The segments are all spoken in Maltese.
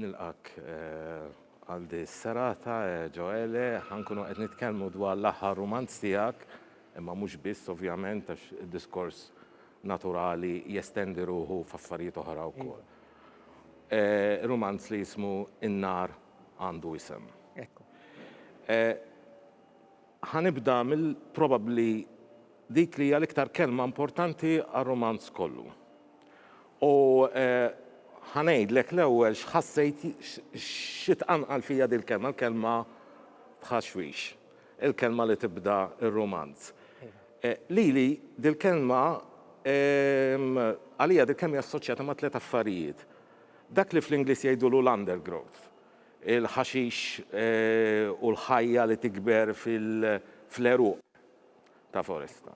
Nilqak eh, għal di serata eh, Ġoele, ħankunu qed nitkellmu dwar l-aħħar rumanz tiegħek, imma mhux biss ovvjament għax id-diskors naturali jestendi ruħu f'affarijiet oħra wkoll. Rumanz li jismu In-nar għandu isem. Ekku. Ħa nibda mill probabbli dik li hija l-iktar kelma importanti għar-rumanz kollu. U ħa ngħidlek l-ewwel x'ħassejt xi tqanqal fija dil-kelma, l-kelma tħaxwix. Il-kelma li tibda r-rumanz. Lili dil-kelma, għalija dil-kelma hija assoċjata ma' tliet affarijiet. Dak li fl-Ingliż jgħidulu l-undergrowth, il-ħaxix u l-ħajja li tikber fl-għeruq ta' foresta,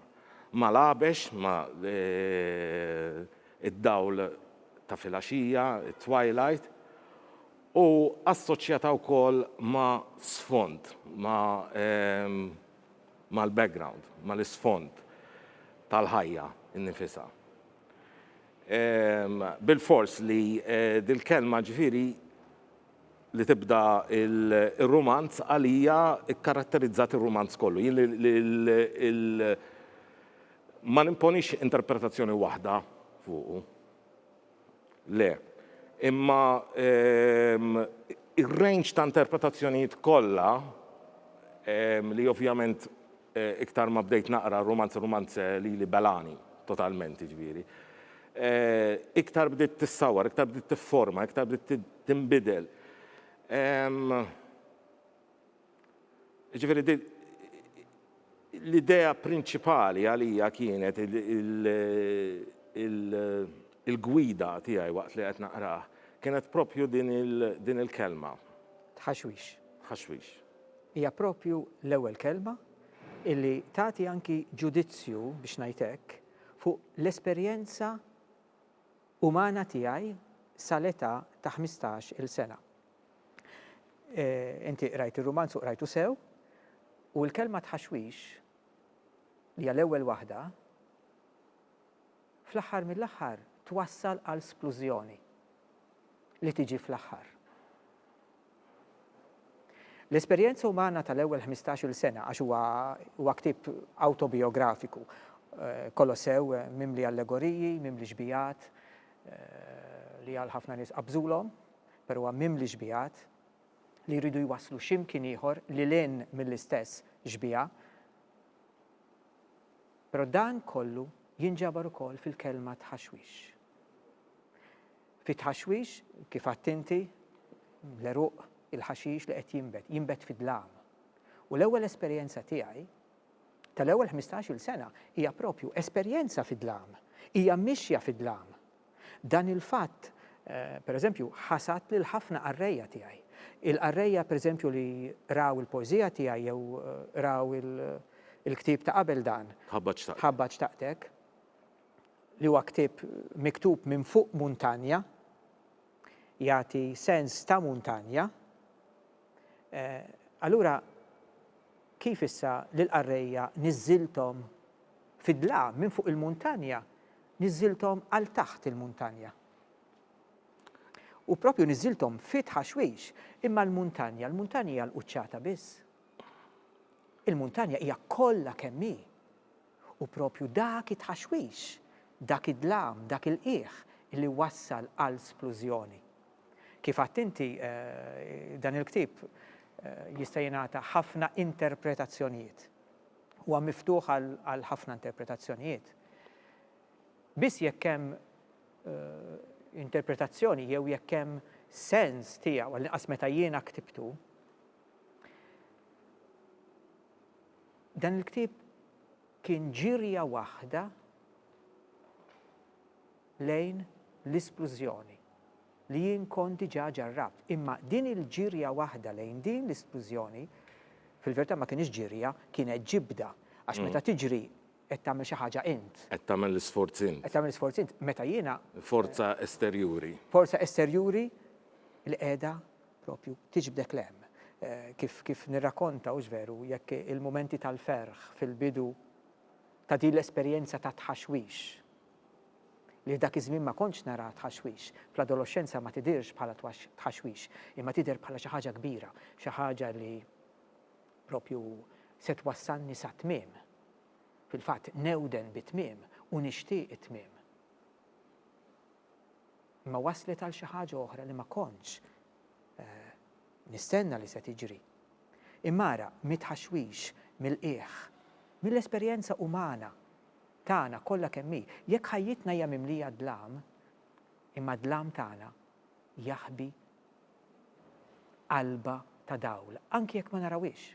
ma' l-għabex, ma' id-dawl ta' filgħaxija, it-twilight, u assoċjata wkoll ma' sfond, ma' mal-background, mal-isfond tal-ħajja nnifisha. Bilfors li dil-kelma ġifieri li tibda r-rumanz għalija kkaratterizzat ir-rumanz kollu. Jien ma nimponix interpretazzjoni waħda fuqu. Le. Imma ir-range ta' interpretazzjonijiet kollha, li ovvjament iktar ma bdejt naqra rumanz rumanz lili belagħni totalment jiġifieri, iktar bdiet tissawwar, iktar bdiet tifforma, iktar bdiet tinbidel. Jiġifieri din l-idea prinċipali għalija kienet il-gwida tiegħi waqt li qed naqrah kienet proprju din il-kelma. Tħaxwix. Tħaxwix. Hija proprju l-ewwel kelma illi tagħti anki ġudizzju, biex ngħid hekk, fuq l-esperjenza umana tiegħi sal-età ta' ħmistax-il sena. Inti qrajt ir-rumanz u qrajtu sew, u l-kelma tħaxwix li hija l-ewwel waħda, fl-aħħar mill-aħħar twassal għal splużjoni li tiġi fl-aħħar. L-esperjenza umana tal-ewwel ħmistax-il sena, għax huwa huwa ktieb awtobijografiku, Kolossew mimli allegoriji, mimli xbijat li għal ħafna nies qabżulhom, però huwa mimli xbigħat li jridu jwasslu xi mkien ieħor lil hinn mill-istess xbieha. Però dan kollu jinġabar ukoll fil-kelma tħaxwix. Fit-tħaxwix, kif għedt inti, l-għeruq, il-ħaxix li qed jinbet, jinbet fi dlam. U l-ewwel esperjenza tiegħi tal-ewwel ħmistax-il sena hija proprju esperjenza fi dlam. Hija mixja fi dlam. Dan il-fatt, pereżempju, ħasad lil ħafna qarrejja tiegħi. Il-qarrejja, pereżempju, li qraw il-poeżija tiegħi jew qraw il-ktieb ta' qabel dan, Ħabba Xtaqtek, li huwa ktieb miktub minn fuq muntanja, jagħti sens ta' muntanja, allura kif issa lill-qarrejja niżżilthom fid-dlam minn fuq il-muntanja Niżżilthom għal taħt il-muntanja. U proprju niżżilthom fi tħaxwix, imma l-muntanja, l-muntanja hija l-quċċata biss. Il-muntanja hija kollha kemm hi. U proprju dak it-tħaxwix, dak id-dlam, dak il-qiegħ li wassal għal splużjoni. Kif għedt inti, dan il-ktieb jista' jingħata ħafna interpretazzjonijiet. huwa miftuħ għal ħafna interpretazzjonijiet. Biss jekk hemm interpretazzjoni jew jekk hemm sens tiegħu, għall-inqas meta jiena ktibtu, dan il-ktieb kien ġirja waħda lejn l-isplużjoni. li jien kont diġà ġarrabt. Imma din il-ġirja waħda lejn din l-isplużjoni, fil-verità ma kinitx ġirja, kienet ġibda. Għax meta tiġri, qed tagħmel xi ħaġa int. Qed tagħmel l-isforz int. Qed tagħmel l-isforz int. Meta jiena. Forza esterjuri. Forza esterjuri li qiegħda proprju tiġbdek 'l hemm. Kif kif nirrakonta, hux veru, jekk il-mumenti tal-ferħ fil-bidu ta' din l-esperjenza ta' tħaxwix. li f'dak iż-żmien ma kontx nara tħaxwix, fl-adoloxxenza ma tidhirx bħala tħaxwix, imma tidher bħala xi ħaġa kbira, xi ħaġa li proprju se twassalni sat-tmiem. Fil-fatt, newden bit-tmiem u nixtieq it-tmiem. Imma waslet għal xi ħaġa oħra li ma kontx eh, nistenna li se tiġri. Imma ara, mit-tħaxwix, mill-qiegħ, mill-esperjenza umana, tagħna kollha kemm hi. Jekk ħajjitna hija mimlija d-dlam, imma d-dlam tagħna jaħbi qalba ta' dawl, anki jekk ma narawhiex.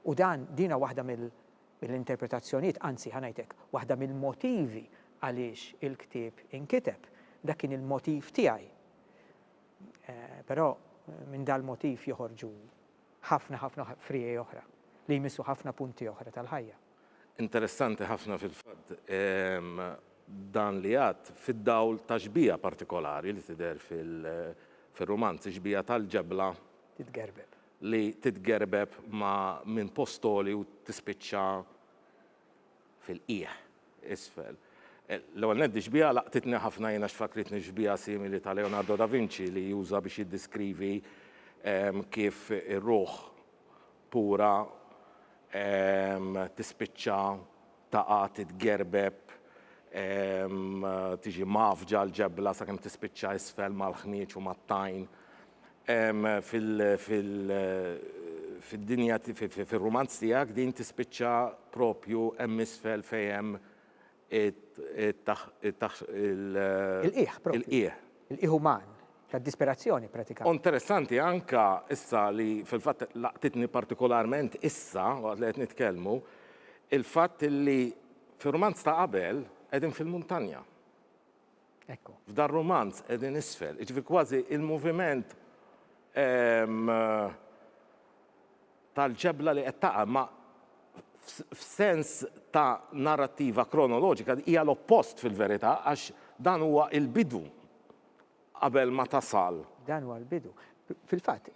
U dan, din waħda mill-interpretazzjonijiet, anzi, ħa ngħid hekk, waħda mill-motivi għaliex il-ktieb inkiteb. Dak kien il-motiv tiegħi. Però minn dal-motiv joħorġu ħafna ħafna friegħi oħra li jmissu ħafna punti oħra tal-ħajja. Interessanti ħafna fil-fatt dan li għadt fid-dawl ta' xbieha partikolari li tidher fil-rumanz, ix-xbieha tal-ġebla Titgerbeb. li titgerbeb ma' minn post għoli u tispiċċa fil-qiegħ isfel. L-ewwel nett dix-xbieha laqtitni ħafna jien għax fakkritni f'xbieha simili ta' Leonardo da Vinci li juża biex jiddiskrivi kif ir-ruħ pura tispiċċa taqa' titgerbeb tiġi mgħaffġa l-ġebla sakemm tispiċċa isfel mal-ħnieġ u mat-tajn fil-dinja fir-rumanz tiegħek din tispiċċa propju hemm isfel fejn hemm Il-qiegħ propju. Il-qiegħ uman, tad-disperazzjoni pratikament. U interessanti anke issa li fil-fatt laqtitni partikolarment issa waqt li qed nitkellmu, il-fatt li fir-rumanz ta' qabel qegħdin fil-muntanja. Ekku. F'dan rumanz qegħdin isfel, jiġifieri kważi il-moviment tal-ġebla li qed taqa' ma f'sens ta' narrattiva kronoloġika hija l-oppost fil-verità għax dan huwa l-bidu qabel ma tasal. Dan huwa l-bidu. Fil-fatt,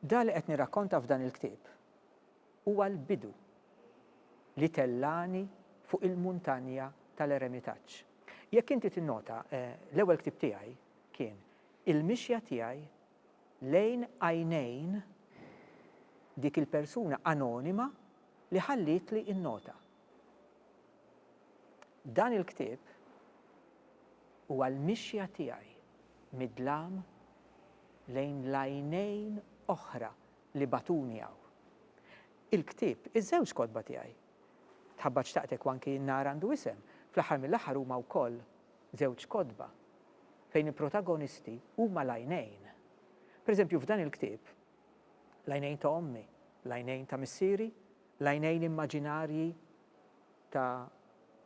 dan li qed nirrakkonta f'dan il-ktieb Huwa l-bidu li tellagħni fuq il-muntanja tal-eremitaġġ. Jekk inti tinnota, l-ewwel ktieb tiegħi kien Il-mixja tiegħi lejn għajnejn dik il-persuna anonima li ħallietli n-nota. Dan il-ktieb huwa l-mixja tiegħi mid-dlam lejn l-għajnejn oħra li bagħtuni hawn. Il-ktieb, iż-żewġ kotba tiegħi, Tħabbat Xtaqtek u anki N-Nar Għandu Isem, fl-aħħar mill-aħħar huma wkoll żewġ kotba fejn il-protagonisti huma l-għajnejn. Pereżempju f'dan il-ktieb, l-għajnejn ta' ommi, l-għajnejn ta' missieri, l-għajnejn immaġinarji, ta'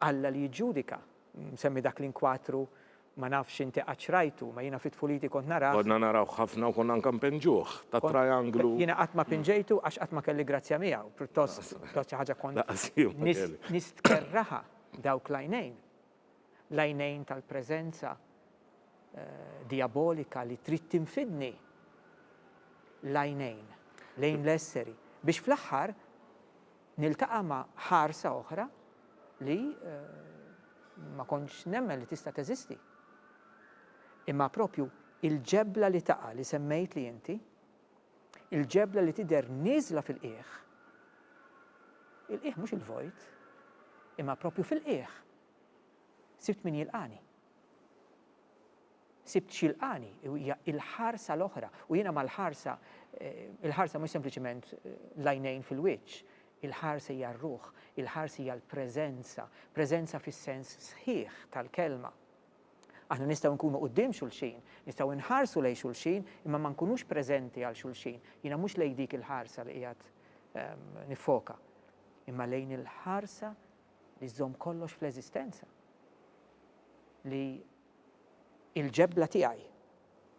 Alla li jiġġudika. Nsemmi dak l-inkwatru, ma nafx inti qattx rajtu, ma jiena fi tfuliti kont narah. Konna narawh ħafna u konna anke npinġuh, tat-trianglu. Jiena qatt ma pinġejtu għax qatt ma kelli grazzja miegħu, pjuttost kont xi ħaġa kont. Lanqas jien ma kelli. Nistkerraha dawk l-għajnejn. L-għajnejn tal-preżenza dijabolika li trid tinfidni. L-għajnejn lejn l-esseri. Biex fl-aħħar Niltaqa' ma' ħarsa oħra li ma kontx nemmen li tista' teżisti. Imma proprju il-ġebla li taqa' li semmejtli inti, il-ġebla li tidher nieżla fil-qiegħ, il-qiegħ mhux il-vojt, imma proprju fil-qiegħ, sibt min jilqagħni. Sibt x'jilqagħni, u hija l-ħarsa l-oħra, u jiena mal-ħarsa, il-ħarsa mhux sempliċement l-għajnejn fil-wiċċ, il-ħarsa hija r-ruħ, il-ħarsa hija l-preżenza, preżenza fis-sens sħiħ tal-kelma. Aħna nistgħu nkunu quddiem xulxin, nistgħu nħarsu lejn xulxin, imma ma nkunux preżenti għal xulxin. Jiena mhux lejn dik il-ħarsa li qiegħed ehm, nifoka, imma lejn il-ħarsa li żżomm kollox fl-eżistenza. Li Il-ġebla tiegħi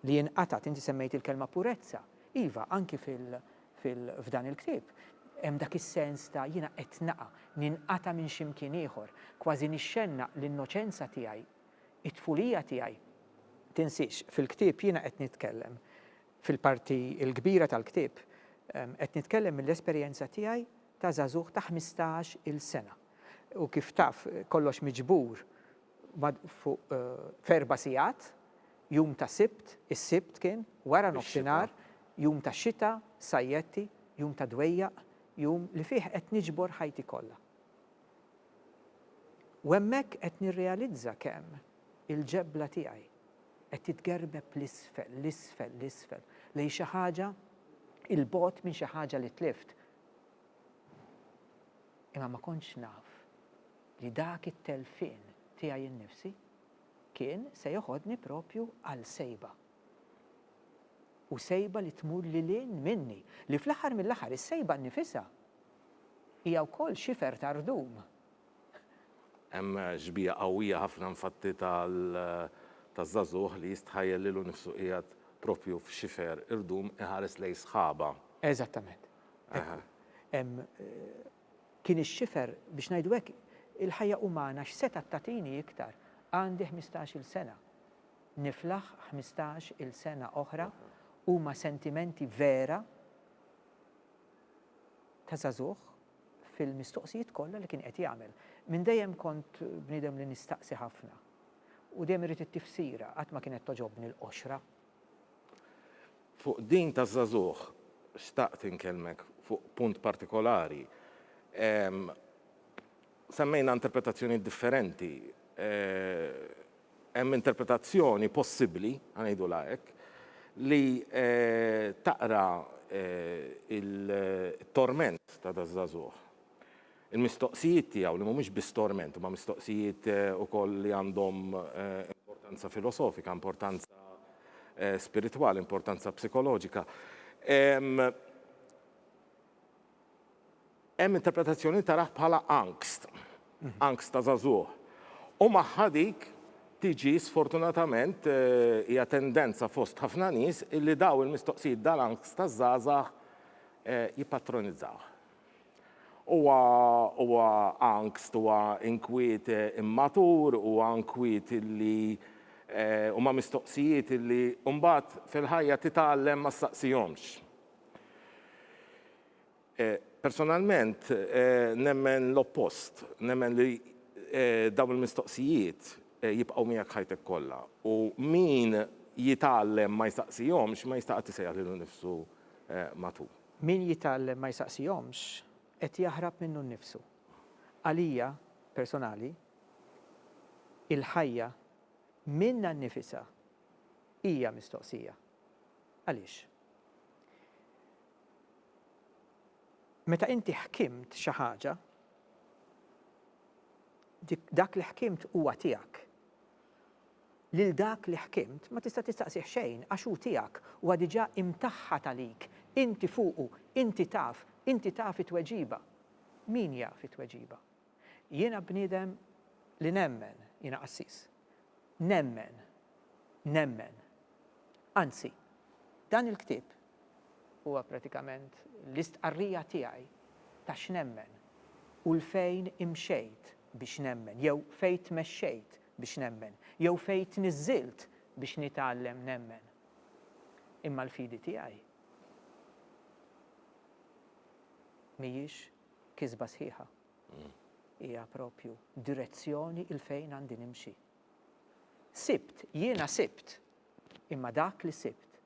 li inqatgħet, inti semmejt il-kelma purezza. Iva, anki f'dan il-ktieb hemm dak is-sens ta' jiena qed naqa', ninqata' minn xi mkien ieħor, kważi nixxennaq l-innoċenza tiegħi, it-tfulija tiegħi. Tinsiex, fil-ktieb jiena qed nitkellem, fil-parti l-kbira tal-ktieb, qed nitkellem mill-esperjenza tiegħi ta' żagħżugħ ta' ħmistax-il sena. U kif taf, kollox miġbur fuq f'erba' sigħat, jum ta' Sibt, is-Sibt kien, wara nofsinhar, jum ta' xita, sajjetti, jum ta' dwejjaq, jum li fih qed niġbor ħajti kollha. U hemmhekk qed nirrealizza kemm il-ġebla tiegħi qed titgerbeb 'l isfel, 'l isfel, 'l isfel, lejn xi ħaġa 'il bogħod minn xi ħaġa li tlift. Imma ma kontx naf li dak it-telfien tiegħi innifsi kien se joħodni proprju għal sejba. U sejba li tmur lil hinn minni, li fl-aħħar mill-aħħar is-sejba nnifisha hija wkoll xifer ta' rdum. Hemm xbieha qawwija ħafna infatti ta' żagħżugħ li jistħajjel lilu nnifsu qiegħed proprju f'xifer irdum iħares lejn sħaba. Eżattament. Hekk hu. Hemm Kien ix-xifer, biex ngħidu hekk, il-ħajja umana x'setgħet tagħtini iktar? Għandi ħmistax-il sena. Niflaħ ħmistax-il sena oħra huma sentimenti vera ta' żagħżugħ fil-mistoqsijiet kollha li kien qed jagħmel. Minn dejjem kont bniedem li nistaqsi ħafna u dejjem irrid it-tifsira, qatt ma kienet togħġobni l-qoxra Fuq din taż-żagħżugħ xtaqt inkellmek fuq punt partikolari. Semmejna interpretazzjonijiet differenti. Hemm interpretazzjoni possibbli, ħa ngħidulha hekk, li taqra t-torment ta' daż-żagħżugħ. Il-mistoqsijiet tiegħu, li mhumiex biss torment, huma mistoqsijiet ukoll li għandhom importanza filosofika, importanza spiritwali, importanza psikoloġika. Hemm interpretazzjoni li tarah bħala angst, angst ta' żagħżugħ. U magħha dik tiġi sfortunatament, hija tendenza fost ħafna nies, illi dawn il-mistoqsijiet, dal-angst taż-żgħażagħ jippatronizzawh. Huwa huwa angst, huwa inkwiet immatur, huwa inkwiet li huma mistoqsijiet li mbagħad fil-ħajja titgħallem ma ssaqsihomx. Personalment nemmen l-oppost, nemmen li dawn il-mistoqsijiet jibqgħu miegħek ħajtek kollha u min jitgħallem ma jsaqsihomx ma jista' qatt isejjaħ lilu nnifsu maturi. Min jitgħallem ma jsaqsihomx, qed jaħrab minnu nnifsu. Għalija, personali, il-ħajja minnha nnifisha hija mistoqsija. Għaliex? Meta inti ħkimt xi ħaġa, dak li ħkimt huwa tiegħek. Lil dak li ħkimt ma tista' tistaqsih xejn għax hu tiegħek, huwa diġà imtaħħad għalik, inti fuqu, inti taf, inti taf it-tweġiba. Min jaf it-tweġiba? Jiena bniedem li nemmen, jiena qassis. Nemmen. Nemmen. Anzi, dan il-ktieb huwa pratikament l-istqarrija tiegħi ta' x'nemmen u 'l fejn imxejt biex nemmen jew fejn tmexxejt biex nemmen, jew fejn tniżżilt biex nitgħallem nemmen. Imma l-fidi tiegħi mhijiex kisba sħiħa. Hija propju direzzjoni il fejn għandi nimxi. Sibt, jiena sibt, imma dak li sibt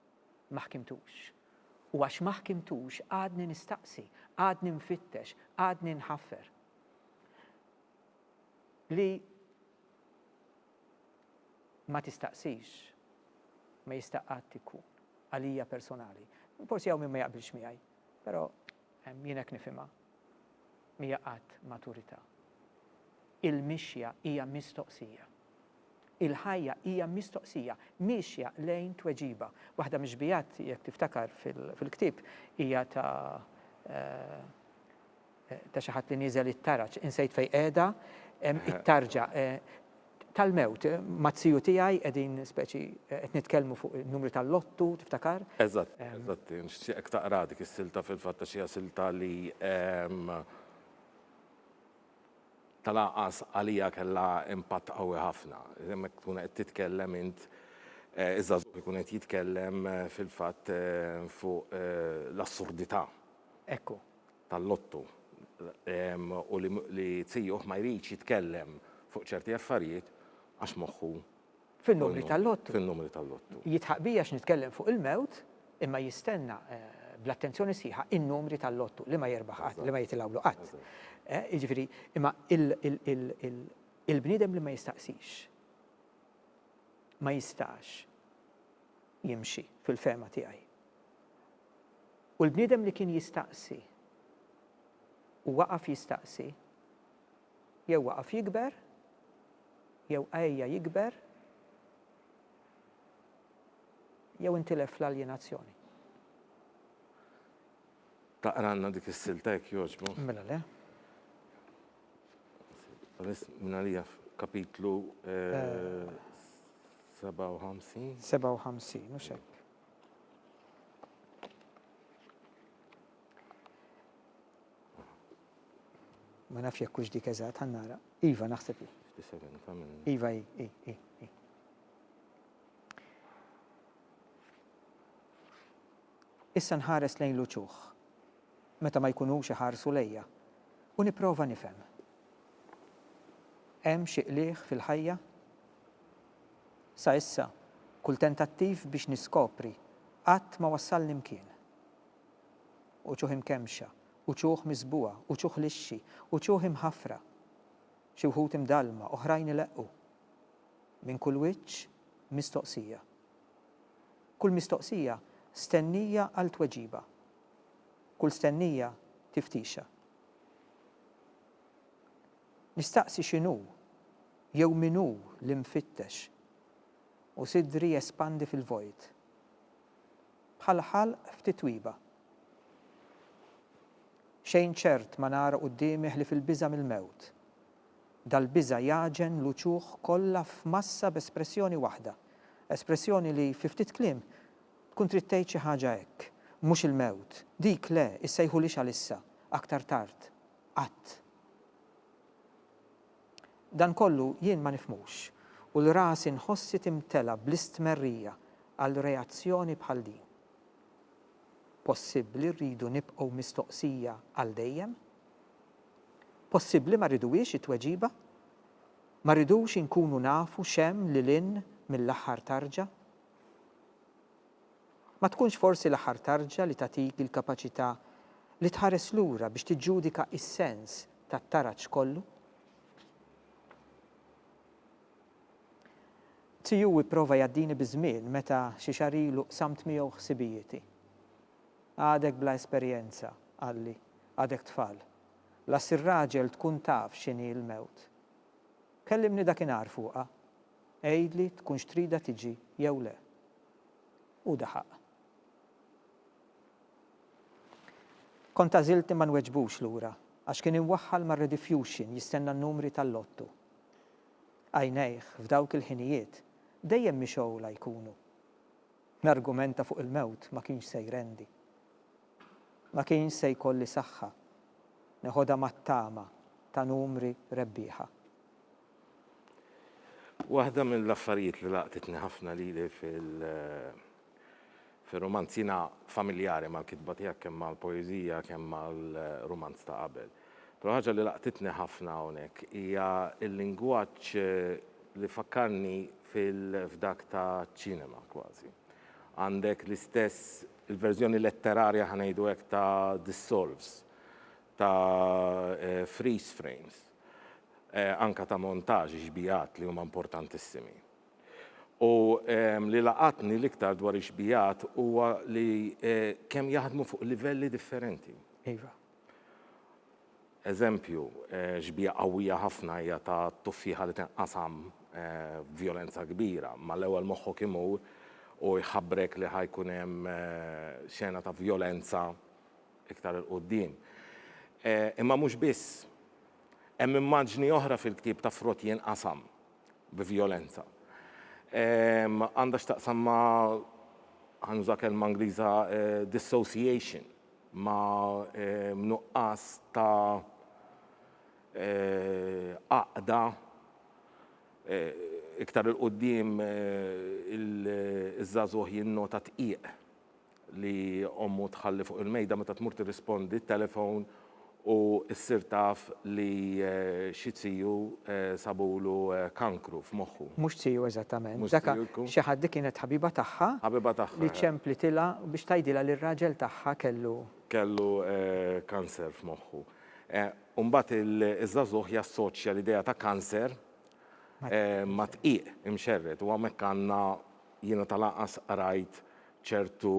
ma ħkimtux. U għax ma ħkimtux għadni nistaqsi, għadni nfittex, għadni nħaffer. li ma tistaqsix ma jista' qatt ikun għalija personali. Forsi hawn min ma jaqbilx miegħi, però jien hekk nifhimha. Mija qatt maturità. Il-mixja hija mistoqsija. Il-ħajja hija mistoqsija, miexja lejn tweġiba. Waħda mix-xbiehat, jekk tiftakar fil-ktieb, hija ta' Ta' xi ħadd li nieżel it-taraġ. Insejt fejn qiegħda. Hemm it-tarġa tal-mewt. Mat-tiju tiegħi qegħdin speċi qed nitkellmu fuq in-numri tal-lottu, tiftakar? Eżatt, eżatt. Nixtieqek taqraha dik is-silta fil-fatt għax hija silta li tal-anqas għalija kellha impatt qawwi ħafna. Hemmhekk tkun qed titkellem int, iż-żagħżugħ ikun qed jitkellem fil-fatt fuq l-assurdità. Ekku. tal-lottu u li zijuh ma jridx jitkellem fuq ċerti affarijiet għax moħħu fin-numri tal-lottu. Fin-numri tal-lottu. Jidħaq bija x'nitkellem fuq il-mewt imma jistenna bl-attenzjoni sħiħa in-numri tal-lottu li ma jirbaħ qatt, li ma jitilgħulu qatt. Jiġifieri, imma il-bniedem li ma jistaqsix ma jistax jimxi fil-fehma tiegħi. U l-bniedem li kien jistaqsi, u waqaf jistaqsi, jew waqaf jikber, jew għejja jikber, jew intilef fl-aljenazzjoni. Taqralna dik is-silta jekk jogħġbok? Mela le. Peress minn għalija f'kapitlu 57. 57, mhux hekk. Ma nafx jekk hux dik eżatt ħan nara. Iva naħseb li. Iva i, i, i, i. Issa nħares lejn l-uċuħ, meta ma jkunux iħarsu lejja, u nipprova nifhem. Hemm xi qligħ fil-ħajja? Sa issa, kull tentattiv biex niskopri qatt ma wassalni mkien. Uċuħ imkemmxa, uċuħ miżbugħa, uċuħ lixxi, uċuħ imħaffra. Xi wħud imdallma, oħrajn ileqqu. Minn kull wiċċ, mistoqsija. Kull mistoqsija stennija għal tweġiba. Kull stennija tiftixa. Nistaqsi x'inhu Jew min hu l-imfittex? U sidri jespandi fil-vojt. Bħal ħalq f'titwiba. Xejn ċert ma nara quddiemi ħlief il-biża' mill-mewt. Dal-biża' jagħġen l-uċuħ kollha f'massa b'espressjoni waħda. Espressjoni li, fi ftit kliem, tkun trid tgħid xi ħaġa hekk, Mhux il-mewt! Dik le! Issejħulhiex għalissa! Aktar tard! Qatt! Dan kollu jien ma nifhmux u l rasi nħossi timtela bl-istmerrija għal reazzjoni bħal din. Possibbli rridu nibqgħu mistoqsija għal dejjem? Possibbli ma rriduhiex it-tweġiba? Ma rridux inkunu nafu x'hemm lil hinn mill-aħħar tarġa? Ma tkunx forsi l-aħħar tarġa li tagħtik il-kapaċità li tħares lura biex tiġġudika s-sens tat-taraġ kollu? Tziu ipprova jgħaddini biż-żmien meta xi xahar ilu qsamt miegħu ħsibijieti. Għadek bla esperjenza, qalli, għadek tfal. La ssir raġel tkun taf x'inhi l-mewt. Kellimni dakinhar fuqha. Għidli tkunx tridha tiġi jew le. u daħaq. Kont għażilt li ma nweġbux lura għax kien imwaħħal mar-redifjuxin jistenna n-numri tal-lottu. Għajnejh, f'dawk il-ħinijiet, dejjem mixgħula jkunu. Nargumenta fuq il-mewt ma kienx se jrendi. Ma kienx se jkolli saħħa neħodha mat-tama ta' numri rebbieħa. Waħda mill-affarijiet li laqtitni ħafna lili fir-rumanz, jiena familjari mal-kitba tiegħek kemm mal-poeżija kemm mal-rumanz ta' qabel, però ħaġa li laqtitni ħafna hawnhekk hija l-lingwaġġ li fakkarni f'dak taċ-ċinema kważi. Għandek l-istess, il-verżjoni letterarja ħa ngħidu hekk ta' dissolves, ta' freeze frames. anke ta' montaġġ, ix-xbigħat li huma importantissimi. U li laqatni l-iktar dwar ix-xbigħat huwa li kemm jaħdmu fuq livelli differenti. Iva. Eżempju, xbieha qawwija ħafna hija ta' tuffieħa li tinqasam b'vjolenza kbira, ma l-ewwel moħħok imur u jħabbrek li ħa jkun hemm xena ta' vjolenza, iktar 'il quddiem. Imma mhux biss. Hemm immaġni oħra fil-ktieb ta' frott jinqasam bi vjolenza. Għandha x'taqsam ma' ħa nuża kelma Ingliża dissociation, ma' nuqqas ta' għaqda iktar 'il quddiem iż-żagħżugħ jinnota tqiegħ li ommu tħalli fuq il-mejda meta tmur tirrispondi t-telefon u ssir taf li xi ziju sabulu kankru f'moħħu. Mhux ziju eżattament. Dak xi ħadd dik kienet ħabiba tagħha. Ħabiba tagħha. Li ċemplitilha biex tgħidilha li r-raġel tagħha kellu. Kellu kanser f'moħħu. U mbagħad iż-żagħżugħ jassoċja l-idea ta' kanser ma' dqiq imxerred u hawnhekk għandna jiena ta' lanqas qrajt ċertu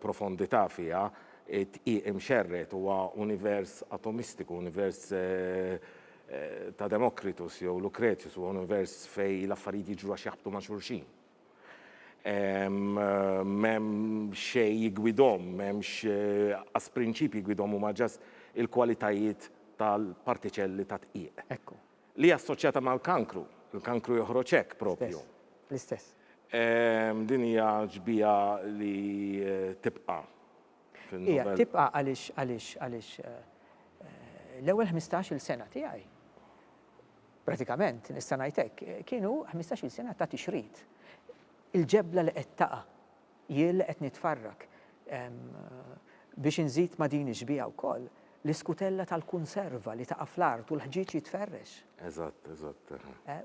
profondità fiha, id-dqiq imxerred huwa univers atomistiku, univers ta' Democritus jew Lucretius, huwa univers fejn l-affarijiet jiġru għax jaħbtu ma' xulxin. M'hemm xejn jiggwidhom, m'hemmx qas prinċipji jgwidhom huma just il-kwalitajiet tal-partiċelli tad-dqiq. Ekku. Li hija assoċjata mal-kankru. Il-kankru joħroġ hekk proprju. L-istess. Din hija xbieha li tibqa' fin-novell. Hija tibqa' għaliex għaliex għaliex l-ewwel ħmistax-il sena tiegħi, pratikament nista' ngħid hekk, kienu ħmistax-il sena ta' tixrid. Il-ġebla li qed taqa'. Jien qed nitfarrak biex inżid ma' din ix-xbieha wkoll l-iskutella tal-kunserva li taqa' fl-art u l-ħġieġ jitferrex. Eżatt, eżatt.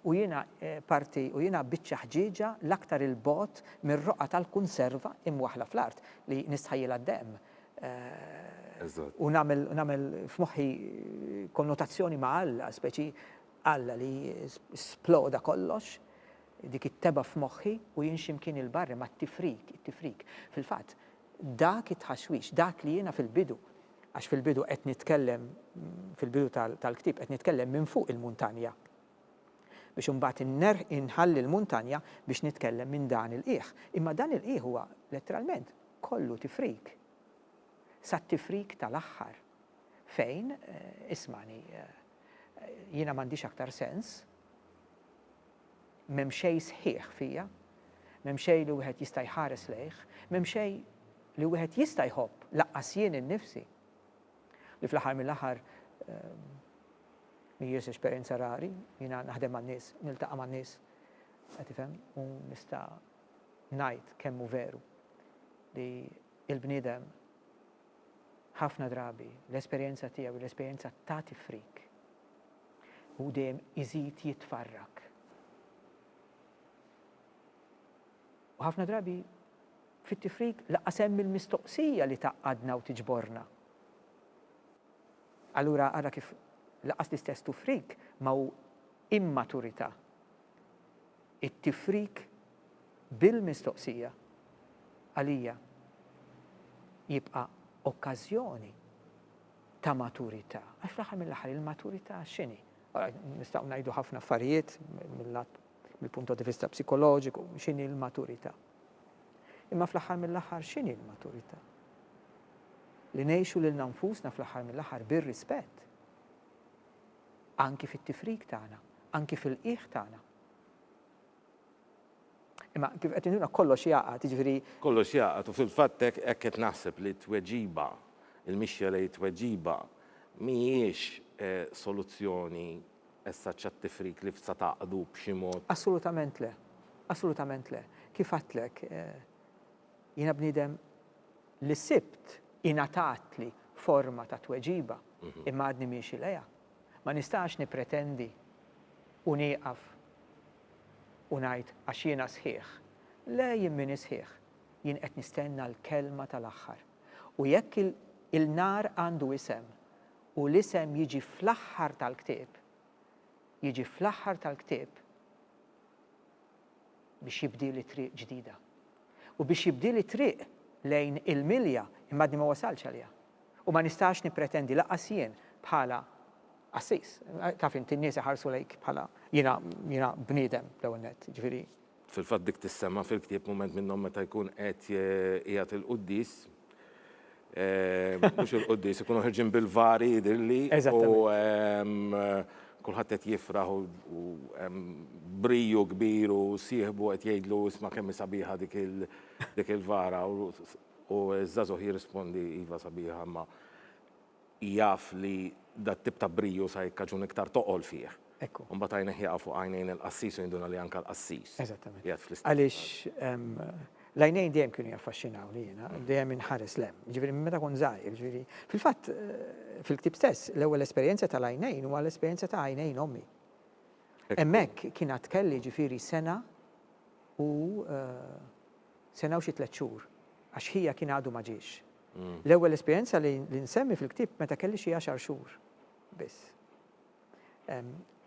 U jiena parti, u jiena biċċa ħġieġa l-aktar 'il bogħod mir-roqgħa tal-kunserva imwaħħla fl-art li nistħajjilha d-demm u nagħmel f'moħħi konnotazzjoni ma' Alla, speċi Alla li sploda kollox dik it-tebgħa f'moħħi u jien xi mkien 'il barra ma' tifrik, it-tifrik. Fil-fatt, dak it-tħaxwix, dak li jiena fil-bidu, għax fil-bidu qed nitkellem, fil-bidu tal-ktieb qed nitkellem minn fuq il-muntanja, biex imbagħad innerħ, inħalli l-muntanja biex nitkellem minn dan il-qiegħ. Imma dan il-qiegħ huwa letteralment kollu tifrik, sat-tifrik tal-aħħar, fejn, ismagħni, jiena m'għandix aktar sens, M'hemm xejn sħiħ fija, m'hemm xejn li wieħed jista' jħares lejh, m'hemm xejn li wieħed jista' jħobb, lanqas jien innifsi, li fl-aħħar mill-aħħar mhijiex esperjenza rari, jiena naħdem man-nies, niltaqa' man-nies, qed tifhem, u nista' ngħid kemm hu veru li l-bniedem Ħafna drabi l-esperjenza tiegħu hi l-esperjenza ta' tifrik. Hu dejjem iżid jitfarrak. U ħafna drabi fit-tifrik laqqas hemm il-mistoqsija li tgħaqqadna u tiġborna. Allura ara kif laqqas l-istess tufrik ma hu immaturità. It-tifrik bil-mistoqsija, għalija jibqa' okkażjoni ta' maturità. Għax fl-aħħar mill-aħħar il-maturità x'inhi? Nistgħu ngħidu ħafna affarijiet mill-lat mill-punto di vista psikoloġiku, x'inhi l-maturità. Imma fl-aħħar mill-aħħar x'inhi l-maturità? Li ngħixu lil nfusna fl-aħħar mill-aħħar bir-rispett. Anki fit-tifrik tagħna, anki fil-qiegħ tagħna. Imma kif qed tgħidilna kollox jgħaqqad, jiġifieri. Kollox jgħaqqad u fil-fatt hekk hekk qed naħseb li t-tweġiba, il-mixja lejn it-tweġiba mhijiex soluzzjoni as such għat-tifrik li tista' tgħaqqdu b'xi mod. Assolutament le. Assolutament le. Kif għedtlek, jiena bniedem li sibt ingħatatli forma ta' tweġiba imma għadni miexi lejha. Ma nistax nippretendi u nieqaf u ngħid għax jiena sħiħ. Le jien m'iniex sħiħ. Jien qed nistenna l-kelma tal-aħħar. U jekk il-nar għandu isem u l-isem jiġi fl-aħħar tal-ktieb, jiġi fl-aħħar tal-ktieb. biex jibdieli triq ġdida u biex jibdieli triq lejn il-milja imma għadni ma wasaltx għaliha. U ma nistax nippretendi lanqas jien bħala qassis, taf int in-nies iħarsu lejk bħala jiena jiena bniedem l-ewwel nett, jiġifieri. Fil-fatt dik tissemma fil-ktieb mument minnhom meta jkun qed iegħid il-quddies. Mhux il-quddis, ikunu ħirġin bil-vari jidhirli. Eżattament. Kulħadd qed jifraħ u briju kbir u sieħbu qed jgħidlu isma' kemm hi sabiħa dik il-vara u ż-żagħżugħ jirrispondi iva sabiħa imma jaf li dat-tip ta' briju sa jikkaġun iktar toqol fih. Ekku. U mbagħad għajnejh jaqgħu fuq għajnejn il-qassis u jinduna li anke l-qassis. Eżattament. Qiegħed fl-istess. Għaliex l-għajnejn dejjem kienu jaffaxxinawni jiena, dejjem inħares 'l hemm. Jiġifieri minn meta kont żgħir, jiġifieri. Fil-fatt, fil-ktieb stess, l-ewwel esperjenza tal-għajnejn huwa l-esperjenza ta' għajnejn ommi. Hemmhekk kien għad kelli jiġifieri sena u sena u xi tliet xhur, għax ħija kien għadu ma ġiex. L-ewwel esperjenza li nsemmi fil-ktieb meta kelli xi għaxar xhur biss.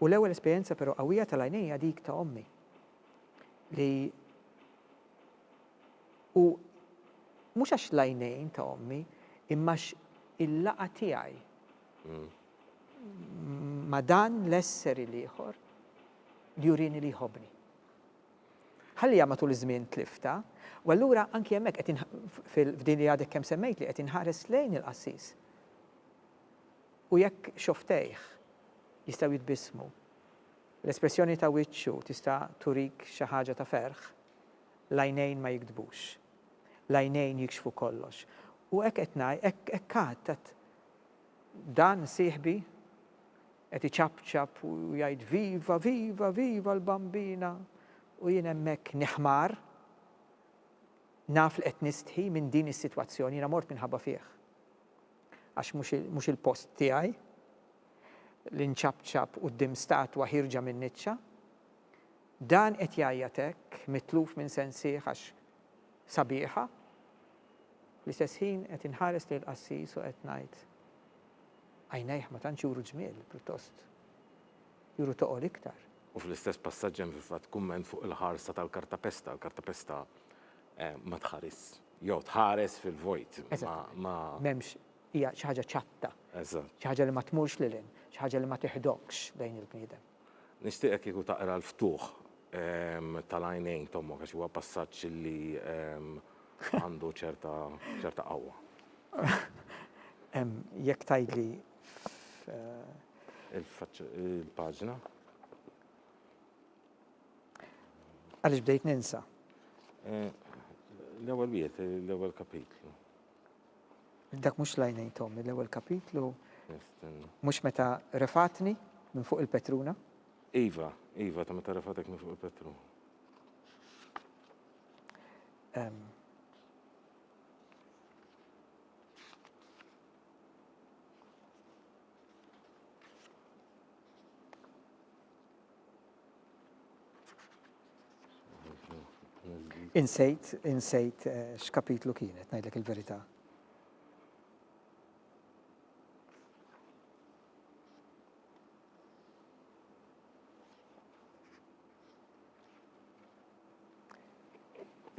U l-ewwel esperjenza però qawwija tal-għajnejja dik ta' ommi li u mhux għax l-għajnejn ta' ommi imma il-laqa tiegħi mm. ma dan l-esseri l-ieħor li jurini li jħobni. Ħalliha matul iż-żmien tlifta, u allura anki hemmhekk qed f'din li għadek kemm semmejt li qed inħares lejn il-qassis. U jekk xofftejh jistgħu jitbissmu, l-espressjoni ta' wiċċu tista' turik xi ħaġa ta' ferħ, l-għajnejn ma jigdbux. L-għajnejn jikxfu kollox. U hekk qed ngħid, hekk għad, għad, Dan sieħbi? Qed iċapċap u jgħid viva, viva, viva l-Bambina u jien hemmhekk niħmar. Naf li qed nistħi minn din is-sitwazzjoni, jiena mort minħabba fih. Għax mhux il-post tiegħi li nċapċap quddiem statwa ħierġa min-niċċa. Dan qed jgħajjat hekk, mitluf minn sensih għax sabiħa. Fl-istess ħin qed inħares lejn qassis u qed ngħid, Għajnejh ma tantx juru ġmiel, pjuttost juru toqol iktar. U fl-istess passaġġ hemm fil-fatt kumment fuq il-ħarsa tal-kartapesta. Il-kartapesta ma tħarisx, jew tħares fil-vojt, ma. M'hemmx, hija xi ħaġa ċatta. Eżatt. Xi ħaġa li ma tmurx lil hinn, xi ħaġa li ma tiħdokx lejn il-bniedem. Nixtieqek kieku taqra l-ftuħ tal-għajnejn t'ommok għax huwa passaġġ li għandu ċerta ċerta qawwa. Jekk tgħidli f'. Il-faċċ il-paġna. Għaliex bdejt ninsa? L-ewwel wieħed, l-ewwel kapitlu. Dak mhux l-għajnejn t'ommi, l-ewwel kapitlu. Nistenna. Mhux meta refatni minn fuq il-petruna? Iva, iva, ta' meta refatek minn fuq il-petruna. Em, Insejt, insejt eh, x'kapitlu kienet, ngħidlek il-verità.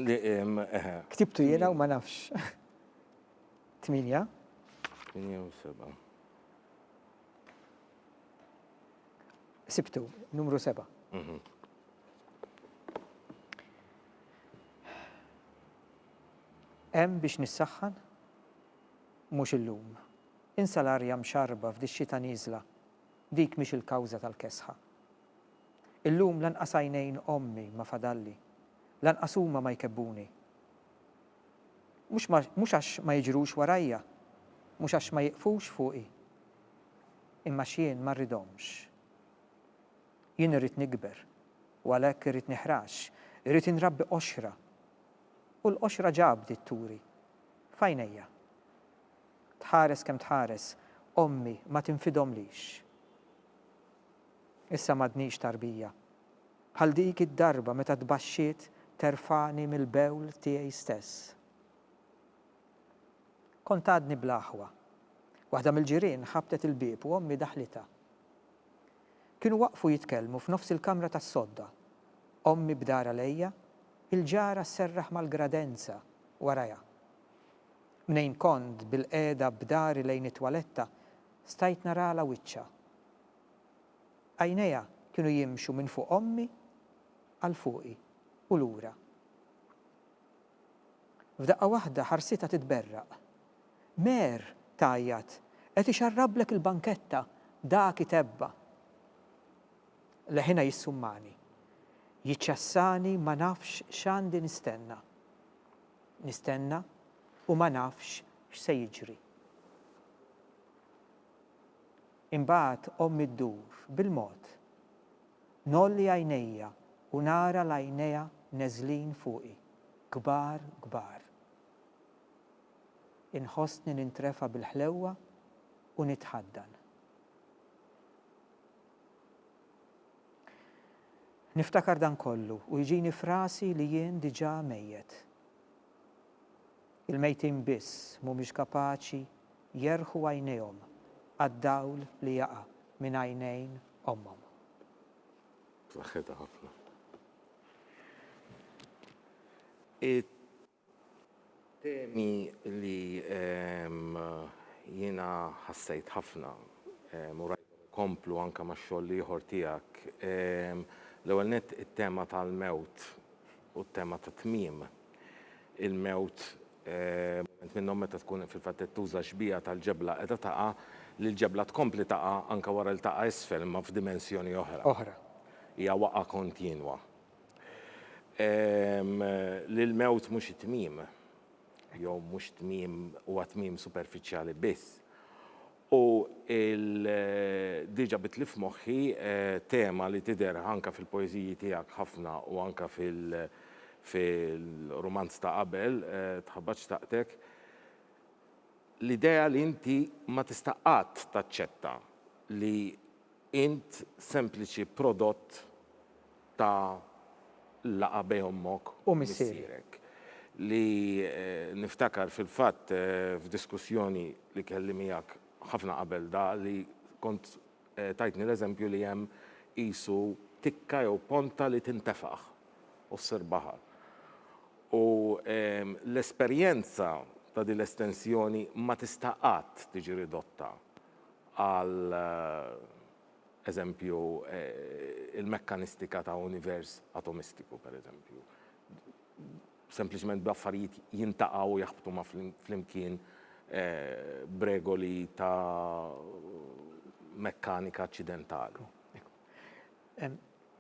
Eh, Ktibtu jiena u ma nafx. 8. 8 Sibtu, numru 7. Mhm. Hemm biex nissaħħan? Mhux illum. Insa l-arja mxarba f'dix-xita nieżla. Dik mhix il-kawża tal-kesħa. Illum lanqas għajnejn ommi ma fadalli. Lanqas huma ma jkebbuni. Mhux għax ma jiġrux warajja, mhux għax ma jieqfux fuqi, imma għax jien ma rridhomx. Jien irrid nikber, u għalhekk irrid nihrax, irrid inrabbi qoxra, u l-qoxra ġa bdiet turi, f'għajnejja. Tħares kemm tħares, ommi ma tinfidhomlix. Issa m'għadnix tarbija. Bħal dik id-darba meta tbaxxiet terfagħni mill-bewl tiegħi stess. Kont għadni bla aħwa. Waħda mill-ġirien ħabtet il-bieb u ommi daħlitha. Kienu waqfu jitkellmu f'nofs il-kamra tas-sodda. Ommi bdar għalejja, il-ġara sserraħ mal-gradenza warajha. Mnejn kont bilqiegħda b'dahri lejn it-twaletta, stajt naralha wiċċha. Għajnejha kienu jimxu minn fuq ommi għal fuqi u lura. F'daqqa waħda ħarsitha titberraq. Mer! tgħajjat. Qed ixarrablek il-banketta, dak itebba. Leħinha jissummani. Jiċċassani ma nafx x'għandi nistenna. Nistenna u ma nafx x'se jiġri. Imbagħad ommi ddur bil-mod. Ngħolli għajnejja u nara l-għajnejha neżlin fuqi, kbar kbar. Inħossni nintrefa' bil-ħlewwa u nitħaddan. Niftakar dan kollu u jġini f'rasi li jien diġà mejjet. Il-mejtin biss m'humiex kapaċi jerħu għajnejhom għad-dawl li jaqa' minn għajnejn ommhom. B'saħħitha ħafna. It-temi li jiena ħassejt ħafna u rajthom ikomplu anke max-xogħol l-ieħor tiegħek, l-ewwel nett it-tema tal-mewt u t-tema tat-tmiem. il-mewt, mument minnhom meta tkun fil-fatt qed tuża xbieha tal-ġebla qiegħda taqa', li l-ġebla tkompli taqa' anke wara li taqa' isfel imma f'dimensjoni oħra. Oħra. Hija waqgħa kontinwa. Li l-mewt mhux it-tmiem, jew mhux tmiem huwa tmiem superfiċjali biss. U diġa bidt li f'moħħi tema li tidher anke fil-poeżiji tiegħek ħafna u anke fil-rumanz ta' qabel, Tħabbat xtaqtek, l-idea li inti ma tista' qatt taċċetta li Int sempliċi prodott ta' laqgħa bejn ommok u missierek. Li niftakar fil-fatt f'diskussjoni li kelli miegħek ħafna qabel da li kont tajtni l-eżempju li hemm qisu tikka jew ponta li tintefaħ u ssir baħar. U l-esperjenza ta' din l-estensjoni ma tista' qatt tiġi ridotta. għal eżempju, il-mekkanistika ta' univers atomistiku, per eżempju, sempliċement bl-affarijiet jintaqgħu u jaħbtu ma' flimkien b'regoli ta' mekkanika aċċidentali.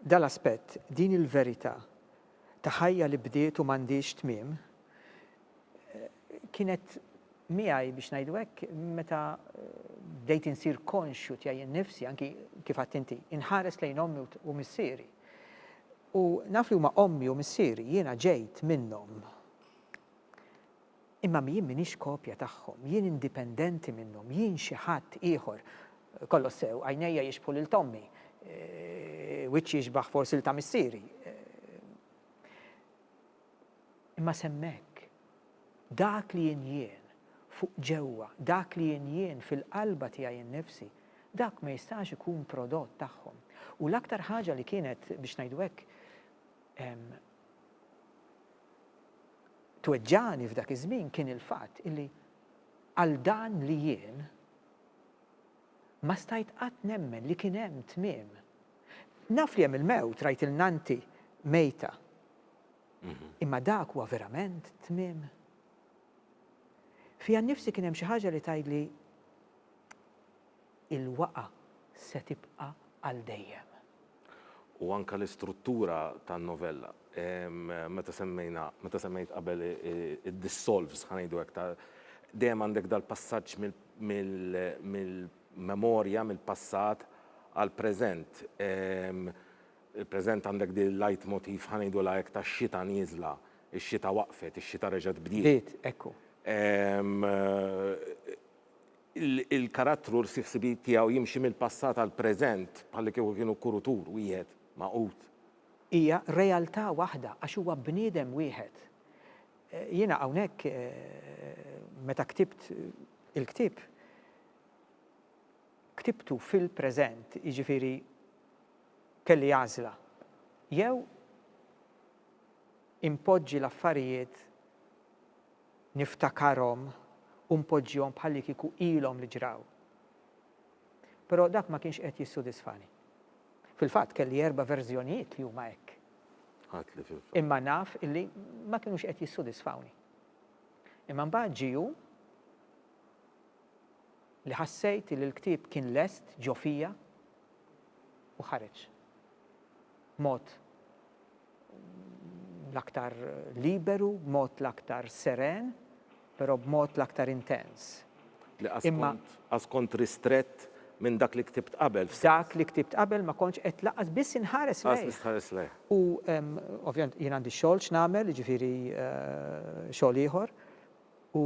Dan l-aspett, din il-verità ta' ħajja li bdiet u m'għandhiex tmiem, kienet miegħi biex ngħidu hekk meta bdejt insir konxju tiegħi nnifsi anki kif għadt inti, inħares lejn ommi u missieri. U naf li huma ommi u missieri jiena ġejt minnhom. Imma jien minix kopja tagħhom, jien indipendenti minnhom, jien xi ħadd ieħor. Kollox sew, għajnejja jixbħu lil tommi, e, wiċċi jixbaħ forsi l ta' missieri. E, Imma s'hemmhekk, dak li jien jien, fuq ġewwa, dak li jien jien fil-qalba tiegħi innifsi, dak ma jistax ikun prodott tagħhom. U l-aktar ħaġa li kienet, biex ngħidu hekk, tweġġagħni f'dak iż-żmien kien il-fatt illi għal dan li jien ma stajt qatt nemmen li kien hemm tmiem Naf li hemm il-mewt, rajt lil nannti mejta. Imma dak huwa verament t-tmiem? Fija nnifsi kien hemm xi ħaġa li tgħidli, Il-waqgħa se tibqa' għal dejjem. U anke l-istruttura tan-novella. Meta semmejna, meta semmejt qabel id-dissolves, ħa ngħidu hekk, ta' dejjem għandek dal-passaġġ mill-, memorja mill-passat għall-preżent. Il-preżent għandek din il-leitmotiv, ħa ngħidulha hekk, tax-xita nieżla, ix-xita waqfet, ix-xita reġgħet bdiet. Bdiet, ekku. Il-karattru l-ħsieb-ħsibijiet tiegħu jimxi mill-passat għall-preżent bħallikieku kienu kurutur wieħed magħqud. Hija realtà waħda għax huwa bniedem wieħed. Jiena hawnhekk meta ktibt il-ktieb, ktibtu fil-preżent, jiġifieri kelli għażla, jew inpoġġi l-affarijiet niftakarhom u npoġġihom bħallikieku ilhom li ġraw. Però dak ma kienx qed jissudisfani. Fil-fatt kelli erba' verżjonijiet li huma hekk. Imma naf illi ma kienux qed jissudisfawni. Imma mbagħad ġie li ħassejt li l-ktieb kien lest ġo fija u ħareġ b'mod l-aktar liberu, b'mod l-aktar seren, però b'mod l-aktar intens. Li qas kont, qas kont ristrett minn dak li ktibt qabel f'sens. Dak li ktibt qabel ma kontx qed lanqas biss inħares lejh. Lanqas biss tħares lejh. U ovvjament jien għandi x-xogħol x'nagħmel, jiġifieri xogħol ieħor, U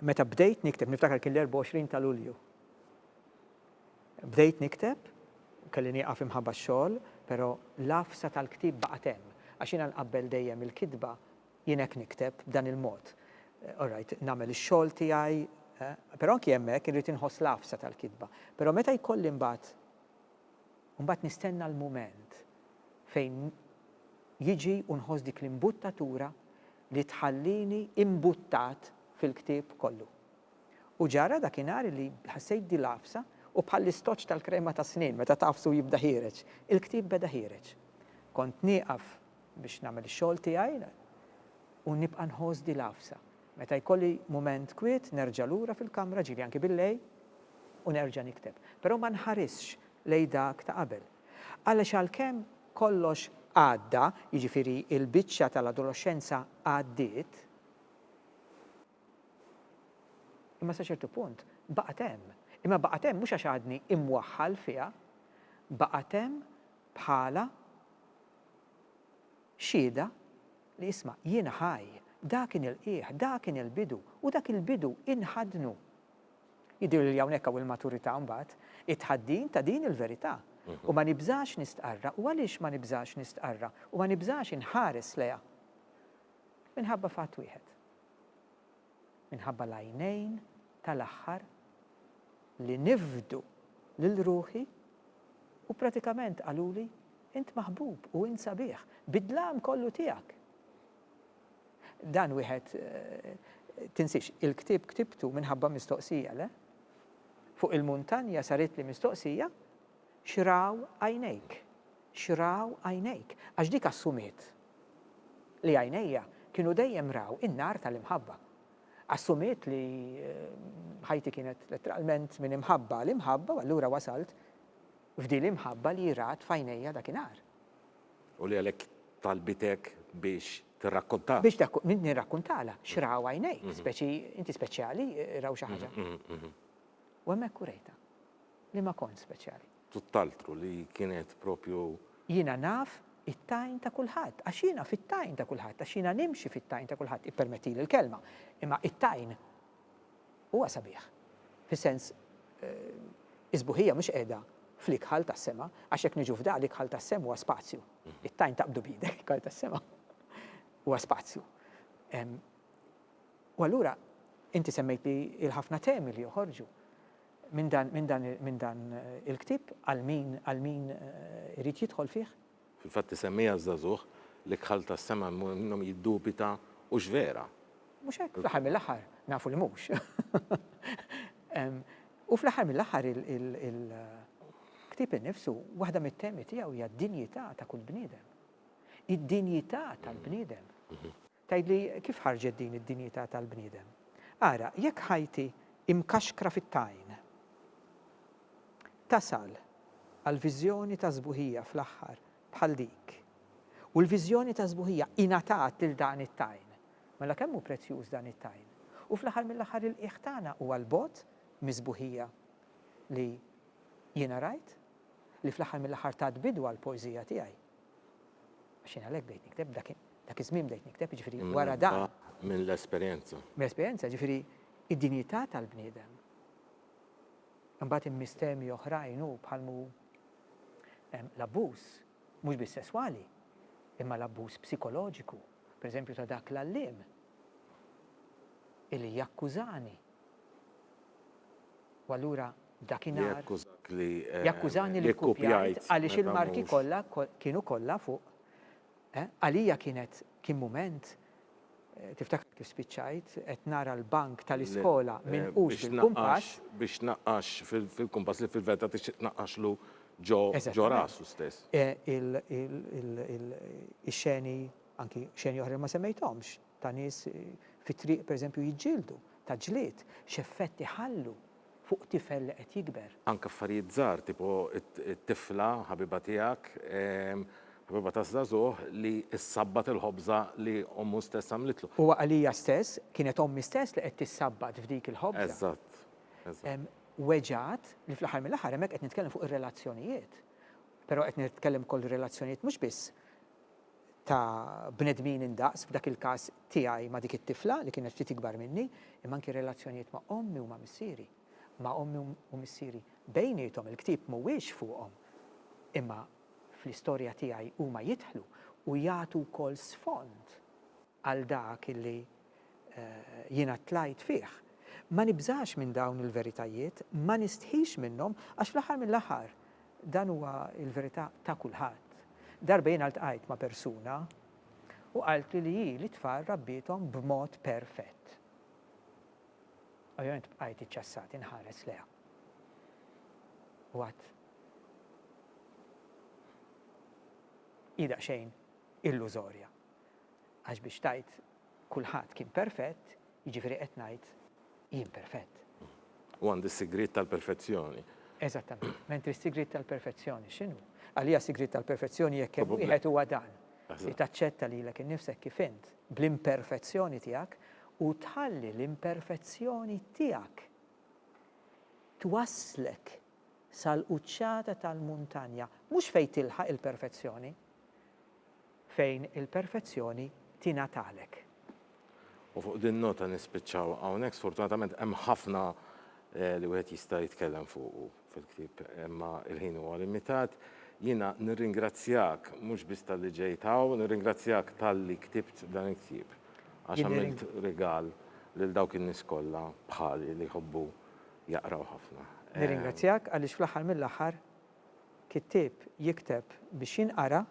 meta bdejt nikteb, niftakar kien l-24 ta' Lulju. Bdejt nikteb, kelli nieqaf imħabba x-xogħol, però l-għafsa tal-ktieb baqgħet hemm. Għax jiena nqabbel dejjem il-kitba, jien hekk nikteb, b'dan il-mod. All right, nagħmel ix-xogħol tiegħi, però anki hemmhekk irrid inħoss l-għafsa tal-kitba. Però meta jkolli mbagħad, mbagħad nistenna l-mument fejn jiġi u nħoss dik l-imbuttatura li tħallini imbuttat fil-ktieb kollu. U ġara dakinhar li ħassejt din l-għafsa u bħall-istoċċ tal-krema tas-snien meta tagħfsu jibda ħiereġ, il-ktieb beda ħiereġ. Kont nieqaf biex nagħmel ix-xogħol tiegħi u nibqa' nħoss din l-għafsa. Meta jkolli mument kwiet nerġa' lura fil-kamra, ġieli anki billejl, u nerġa' nikteb. Però ma nħarisx lejn dak ta' qabel. Għaliex għalkemm kollox għadda, jiġifieri l-biċċa tal-adoloxxenza għaddiet, imma sa ċertu punt baqgħet hemm. Imma baqgħet hemm mhux għax għadni imwaħħal fiha, baqgħet hemm bħala xhieda li isma' jiena ħaj, dak inilqieh, dak inilbidu u dak il-bidu inħaddnu. Jidhirli li hawnhekk hawn il-maturità mbagħad, it-tħaddin ta' din il-verità. U ma nibżax nistqarrha. U għaliex ma nibżax nistqarrha u ma nibżax inħares lejha? Minħabba fatt wieħed. Minħabba l-għajnejn tal-aħħar li nifdu lil ruħi u pratikament qaluli, Int maħbub u int sabiħ, bid-dlam kollu tiegħek. Dan wieħed tinsiex, il-ktieb ktibtu minħabba mistoqsija, le? Fuq il-muntanja saritli mistoqsija, X'raw għajnejk? X'raw għajnejk? Għax dik assumiet li għajnejja kienu dejjem raw in-nar tal-imħabba. Assumiet li ħajti kienet letteralment minn imħabba għal imħabba u allura wasalt f'din l-imħabba li rat f'għajnejja dakinhar. U li għalhekk talbitek biex tirrakkontah. Biex nirrakkuntalha x'raw għajnejk, speċi inti speċjali, raw xi ħaġa. U hemmhekk urejtha li ma kontx speċjali. Tutt'altru, li kienet proprju. Jiena naf it-tajn ta' kulħadd, għax jiena fit-tajn ta' kulħadd, għax jiena nimxi fit-tajn ta' kulħadd, ippermettili l-kelma, imma it-tajn. huwa sabiħ, fis-sens is-sbuħija mhux qiegħda fl-ikħal tas-sema, għax jekk niġu f'da, l-ikħal tas-sem huwa spazju. It-tajn taqbdu b'idek, l-ikħal tas-sema huwa spazju. U allura inti semmejt li il-ħafna temi li joħorġu minn dan il-ktieb għal min irid jidħol fih, Fil-fatt isemmiha żagħżugħ li kħal tas-sema jmur minnhom jiddubita hux vera. Mhux hekk? Fl-aħħar mill-aħħar nafu li mhux. U fl-aħħar mill-aħħar il-ktieb innifsu waħda mit-temi tiegħu hija d-dinjità ta' kull bniedem. Id-dinjità tal-bniedem. Tgħidli, kif ħarġet din id-dinjità tal-bniedem? Ara, jekk ħajti hi mkaxkra fit-tajn, tasal għal viżjoni ta' sbuħija fl-aħħar bħal dik, u l-viżjoni ta' sbuħija ingħatat lil dan it-tajn, mela kemm hu prezzjuż dan it-tajn? U fl-aħħar mill-aħħar il-qiegħ tagħna huwa 'l bogħod mis-sbuħija li jiena rajt, li fl-aħħar mill-aħħar tat bidu għall-poeżija tiegħi. Għax jien għalhekk bdejt nikteb, dak iż-żmien bdejt nikteb, jiġifieri wara dan. Minn minn l-esperjenza. Mill-esperjenza, jiġifieri d-dinjità tal-bniedem. Imbagħad hemm mistemi oħrajn hu bħal m'hu l-abbuż, mhux biss sesswali, imma l-abbuż psikoloġiku, pereżempju ta' dak l-għalliem illi jakkużani. U allura dakinhar jakkużani li kkupjajt għaliex il-marki kollha kienu kollha fuq Għalija kienet kien mument Tiftakar kif spiċċajt qed nara l-bank tal-iskola minqux bil-kumpass? Biex tnaqqax fil-kumpass li fil-verità tixtieq tnaqqaxlu ġo rasu stess. Ix-xeni, anki xeni oħra li ma semmejthomx. ta' nies fit-triq pereżempju jiġġieldu, ta' ġlied, x'effett iħallu fuq tifel li qed jikber. Anke affarijiet żgħar tipo t-tifla ħabiba tiegħek, ħabiba ta' żagħżugħ li ssabbat il-ħobża li ommu stess għamlitlu. Huwa għalija stess, kienet ommi stess li qed tissabbat f'dik il-ħobża. Eżatt, eżatt. Weġgħat li fl-aħħar mill-aħħar hemmhekk qed nitkellem fuq ir-relazzjonijiet. Però qed nitkellem ukoll relazzjonijiet mhux biss ta' bnedmin indaqs, f'dak il-każ tiegħi ma' dik it-tifla li kienet ftit ikbar minni, imma anki relazzjonijiet ma' ommi u ma' missieri, ma' ommi u missieri bejniethom, il-ktieb mhuwiex fuqhom, imma fl-istorja tiegħi huma jidħlu u jagħtu wkoll sfond għal dak li jiena tlajt fih. Ma nibżax minn dawn il-veritajiet, ma nistħix minnhom, għax fl-aħħar mill-aħħar dan huwa l-verità ta' kulħadd. Darba jiena ltqajt ma' persuna u qaltli li hi lit-tfal rabbiethom b'mod perfett. Ovvjament bqajt iċċassat inħares lejha. U għadt, Hi daqsxejn illużorja. Għax biex tgħid kulħadd kien perfett, jiġifieri qed ngħid jien perfett. U għandi s-sigriet tal-perfezzjoni. Eżattament. Mentri s-sigriet tal-perfezzjoni x'inhu? Għalija s-sigriet tal-perfezzjoni jekk hemm wieħed huwa dan li taċċetta lilek innifsek kif int bl-imperfezzjoni tiegħek u tħalli l-imperfezzjoni tiegħek twasslek sal-quċċata tal-muntanja, mhux fejn tilħaq il-perfezzjoni, fejn il-perfezzjoni tingħatalek. U fuq din nota nispiċċaw hawnhekk, sfortunatament hemm ħafna li wieħed jista' jitkellem fuqu fil-ktieb imma l-ħin huwa limitat. Jiena nirringrazzjak mhux biss talli ġejt hawn, nirringrazzjak talli ktibt dan il-ktieb għax għamilt rigal lil dawk in-nies kollha bħali li jħobbu jaqraw ħafna. Nirringrazzjak għaliex fl-aħħar mill-aħħar kittieb jikteb biex jinqara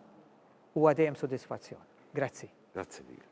huwa dejjem sodisfazzjon. Grazzi. Grazzi lilek.